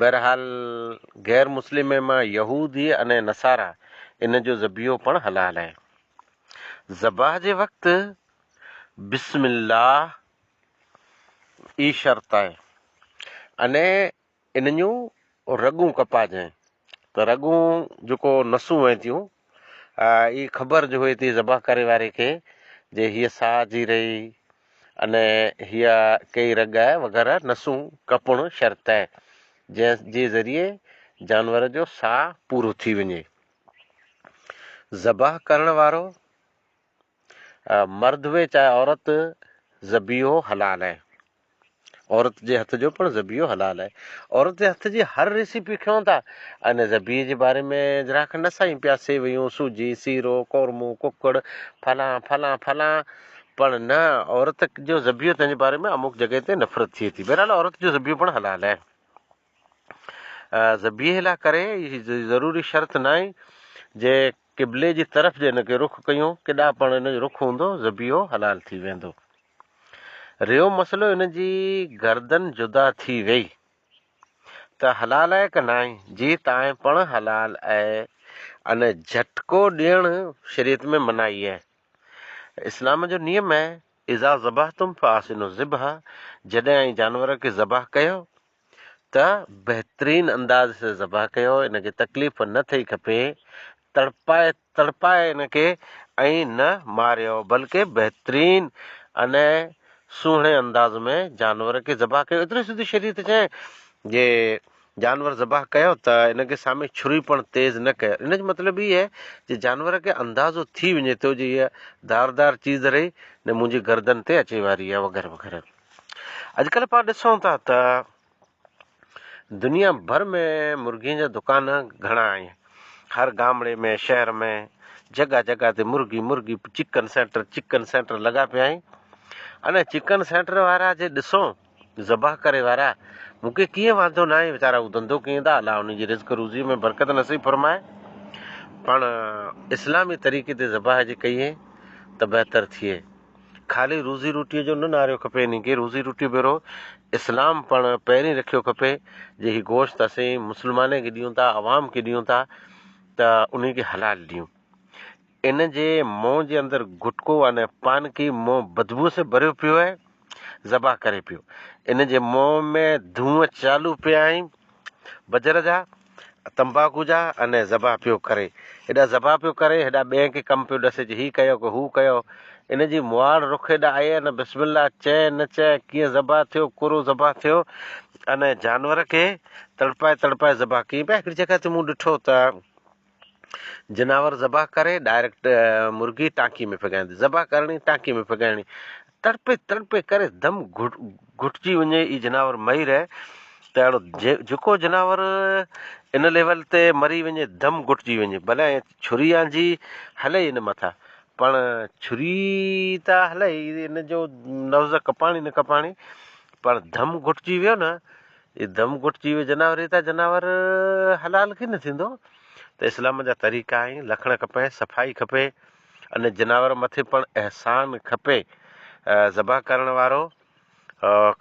بهرحال غير مسلم ۽ مان يهودي ان نصارا ان جو ذبيحو پڻ حلال آهي. ذبح جي وقت بسم الله ئي شرط آهي ان ان جون رڳون ڪپاجين ته رڳون جيڪو نسون وهن ٿيون اي خبر جو هئتي ذبح ڪري واري کي جي هيء ساهه جي رهي اني هيء ڪئي رڳ وغيره نسون ڪپڻ شرط اي جنهن جي ذريعي جانور جو ساهه پورو ٿي وڃي. ذبح ڪرڻ وارو مرد هئي چاهي عورت ذبيحو حلال آهي عورت جي هٿ جو پڻ ذبيحو حلال آهي عورت جي هٿ جي هر ريسيپي کيون ٿا ان ذبيحي جي باري ۾ ذرا کن نه سائين پيا سيويون سوجي سيرو قورمو ڪڪڙ فلان فلان فلان پر نه عورت جو ذبيحو تنهنجي باري ۾ اموڪ جڳهه تي نفرت ٿئي ٿي بهرحال عورت جو ذبيحو پڻ حلال آهي ذبيحي لاء ڪري ضروري شرط نه آهي جي قبلي جي طرف جي ان کي رخ ڪيو ڪيڏانهن پڻ ان جو رخ هوندو ذبيحو حلال ٿي ويندو. ريو مسئلو ان جي گردن جدا ٿي ويئي ته حلال آهي ڪه ناهي جي تائين پڻ حلال آهي ان جهٽڪو ڏيڻ شريعت ۾ منائي آهي اسلام جو نيم آهي اذا ذبحتم فاحسنوا الذبح جڏهن اوهين جانور کي ذبح ڪيو ته بهترين انداز سان ذبح ڪيو ان کي تڪليف نه ٿئي کپي تڙپائي تڙپائي ان کي ائين نه ماريو بلڪ بهترين ان سهڻي انداز ۾ جانور کي ذبح ڪيو ايترو سڌي شريعت چئين جي جانور ذبح ڪيو ته ان کي سامي چھري پڻ تيز نه ڪيو ان جو مطلب هي آهي جي جانور کي اندازو ٿي وڃي ٿو جي هي داردار چيز رهي نه منهنجي گردن تي اچي واري آهي وغيره وغيره اڄڪلهه پاڻ ڏسون ٿا ته دنيا ڀر ۾ مرغين جا دڪان گهڻا آهن. هر گامڙي ۾ شهر ۾ جڳهه جڳهه تي مرغي مرغي چڪن سينٽر چڪن سينٽر لڳا پيا آهن. انهن چڪن سينٽر وارا جي ڏسو ذبح ڪري وارا مون کي ڪيئن واندو نه آهي ويچارا هو ڌنڌو ڪين ٿا الله انهن جي رزق روزي ۾ برڪت نصيب فرمائي پاڻ اسلامي طريقي تي ذبح جي ڪيئي ته بهتر ٿئي. خالي روزي روٽيء جو نه نعريو کپي انهي کي روزي روٽي ڀيرو اسلام پڻ پهرين رکيو کپي جي هي گوشت اسين مسلماني کي ڏيون ٿا عوام کي ڏيون ٿا ته انهي کي حلال ڏيون ان جي منهن جي اندر گٽڪو ان پان کي منهن بدبوء سان ڀريو پيو آهي ذبح ڪري پيو ان جي منهن ۾ ڌونء چالو پيا آهن بجر جا تنباڪو جا ان ذبح پيو ڪري هيڏا ذبح پيو ڪري هيڏا ٻين کي ڪم پيو ڏسي جو هي ڪيو ڪو هو ڪيو ان جي مواڙ رخ هيڏا آئي ان بسم الله چئه نه چئه ڪيئن ذبح ٿيو ڪورو ذبح ٿيو ان جانور کي تڙپائي تڙپائي ذبح ڪيئن پيا هڪڙي جڳهه تي مون ڏٺو ته جناور ذبح ڪري ڊائريڪٽ مرغي ٽانڪي ۾ ڦڳائيندي ذبح ڪرڻي ٽانڪي ۾ ڦڳائڻي تڙپي تڙپي ڪري دم گهٽجي وڃي اي جناور مئي رهي ته اهڙو جيڪو جناور ان ليول تي مري وڃي دم گهٽجي وڃي ڀلي ڇري آنجي هلئي ان مٿا پڻ ڇري ته هلئي ان جو لفظ ڪپاڻي نه ڪپاڻي پڻ دم گهٽجي ويو نه اي دم گهٽجي ويو جناور اي ته جناور حلال ڪي نه ٿيندو ته اسلام جا طريقا آهن لکڻ کپي صفائي کپي ان جناور مٿي پڻ احسان کپي ذبح ڪرڻ وارو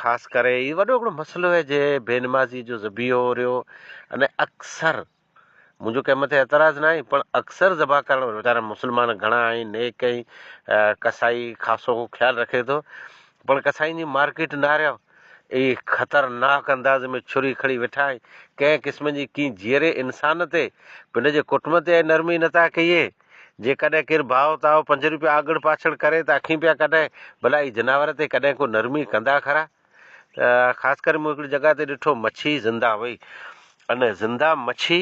خاص ڪري هي وڏو هڪڙو مسئلو هي جي بي نمازي جو ذبيحو ريو ان اڪثر منهنجو ڪنهن مٿي اعتراض نه آهي پڻ اڪثر ذبح ڪرڻ ويچارا مسلمان گهڻا آهن نيڪ آهن ڪسائي خاصو خيال رکي ٿو پڻ ڪسائين جي مارڪيٽ نه رهيو اي خطرناڪ انداز ۾ ڇري کڙي ويٺا آهن ڪنهن قسم جي ڪي جيئري انسان تي پنهنجي ڪٽم تي نرمي نٿا ڪيئي جيڪڏهن ڪير ڀاء تاء پنج روپيا آڳڻ پاڇڻ ڪري ته اکين پيا ڪڍائين، ڀلا هي جناور تي ڪڏهن ڪو نرمي ڪندا کرا؟ خاص ڪري مون هڪڙي جڳهه تي ڏٺو مڇي زنده هئي ان زنده مڇي،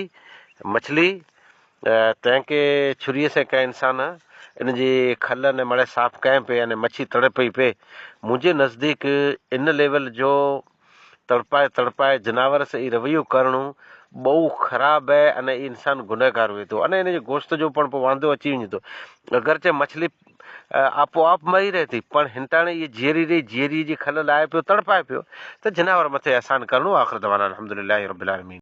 مڇلي، تنهن کي ڇري سين ڪنهن انسان ان جي کل ان مڙهي صاف ڪيائين پئي ان مڇي تڙپئي پئي، منهنجي نزديڪ ان ليول جو تڙپائي تڙپائي جناور سان اي رويو ڪرڻو ٻئو خراب اهي ان اي انسان گنهگار هئي ٿو ان انجي گوشت جو پڻ پو واندو اچي وڃي ٿو اگرچه مڇلي آپو آپ مري رهي ٿي پڻ هنتاڻي اي جيئري رهي جيئري جي کل لاهي پيو تڙپائي پيو ته جناور مٿي احسان ڪرڻو آخر دعوانا الحمدلله رب العالمين.